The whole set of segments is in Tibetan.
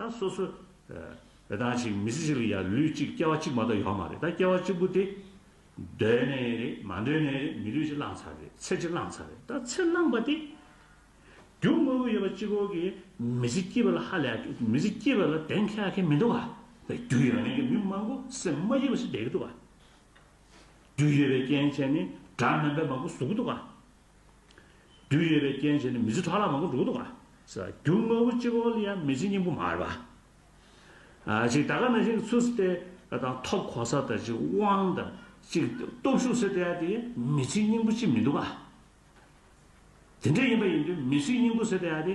ད་སོ་སོ། དེ་དང་ཅིག་མི་ཚེ་གཅིག་ལ་ཡང་ལུས་གཅིག་སྐྱེ་བ་གཅིག་མ་གཏོགས་ཡོད་མ་རེད་ད་སྐྱེ་བ་གཅིག་པུ་དེ། འདོད་ནས་རེད་མ་འདོད་ནས་རེད་མི་ལུས་གཅིག་བླངས་ཚར་རེད་ཚེ་གཅིག་བླངས་ཚར་རེད་ད་ཚེ་བླངས་པ་དེ། རྒྱུ་དངོས་པོ་ཡོད་པ་གཅིག་གོ་གི་མི་ཚེ་སྐྱིད་པ་ལ་ཧ་ལས་མི་ཚེ་སྐྱིད་པ་ལ་གདེང་ཁ་གི་མི་འདུག་ག་རྒྱུ་ཡོད་མཁན་གྱི་མི་མང་པོ་སེམས་མ་སྐྱིད་པ་ཞིག་བསྡད་གི་འདུག་ག་རྒྱུ་ཡོད་པའི་རྐྱེན་བྱས་ནས་དགྲ་དམན་པའི་མང་པོ་ཟུག་གི་འདུག་ག། རྒྱུ་ཡོད་པའི་རྐྱེན་བྱས་ནས་མི་ཚེ་ཕྲག་ལ་མང་པོ་འགྲོ་གི་འདུག་ག། རྒྱུ་དངོས་པོ་གཅིག་པོ་ལས་ཡང་མི་ཚེ་སྙིང་པོ་མ་རེད་པ། གཅིག་ད་ག་ནང་བཞིན་གྱི་ཚུལ་སྲིད་དེ་དང་ཐོབ་གོ་ས་དང་གཅིག་དབང་དང་གཅིག་སྟོབས་ཤུགས་སྲིད་དེ་དེ་ཡང་མི་ཚེ་སྙིང་པོ་གཅིག་མི་འདུག་ག། དེ་འདྲ་ཡིན་པ་ཡིན་དུས་མི་ཚེ་སྙིང་པོ་སྲིད་དེ་དེ།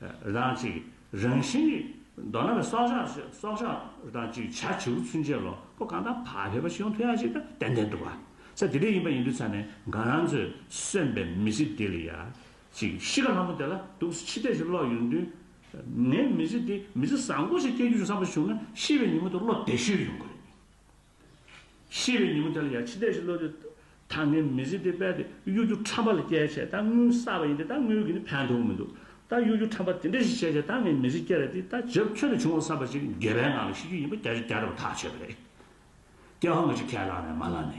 རང་གཅིག། རང་བཞིན་གྱི། མདོར་ན་བའི་སྲོག་ཆགས་ཆེ་སྲོག་ཆགས་རང་གཅིག་བྱ་བྱེའུ་ཚུན་ཆད་ལོ་པོ་གང་དང་བག་ཕེབས་པ་ཞིག་ཡོང་ཐུ་ཡག་ཅིག་ཏུ་ཏན་ཏན་འདུག་བ། ས་དེ་རིགས་ཡིན་པ་ཡིན་དུས་ཚ་ནས་འགའ་རང་ཚོས་གསོན་པའི་མི་ཚེ་དེ་ལ་ཡག་ཅིག་གཤིས་ཀ་ལྷ་མོ་དེ་ལ་དུག་སེལ་ཕྱི་བལྟས་ཤིག་བསློག་ཡོང་དུས། ངའི་མི་ཚེ་དེ་མི་ཚེ་བཟང་པོ་ཞིག་སྐྱེལ་རྒྱུ་ཞིག་བསམ་པ་བྱུང་ན་ཤི་བའི་ཉིན་མོ་དེ་བློ་བདེ་ཤོས་ཡོང་གི་རེད། ཤེས་རིག་ཉུང་དལ་ཡ་ཕྱི་ལྟས་ཤིག་བློ་རིག། ད་ངས་མི་ཟིག་དེ་པད་དེ་གཡོ་སྒྱུ་ཁྲམ་པ་ལ་སྐྱེལ་བྱས་ད་དངུལ་བསགས་པ་ཡིན་དེ་ད་དངུལ་གྱི་ནི་ཕན་ཐོག་མི་འདུག་ད་གཡོ་སྒྱུ་ཁྲམ་པ་དེ་འདྲ་ཞིག་བྱས་བྱས་ད་ངས་མི་ཟིག་སྐྱེལ་ར་དེ་ད་ཇབ་ཁྱོད་ལ་བྱུང་བ་བསམ་པ་ཞིག་འགལ་བའི་ངང་ལ་ཤི་རྒྱུ་ཡིན་པ་རྒྱ་ཆ་རྒྱ་ར་བ་ཐག་ཆོད་པ་རེད་སྐྱེལ་བ་ངོ་ཅི་གལ་ལགས་ནས་མ་ལགས་ནས།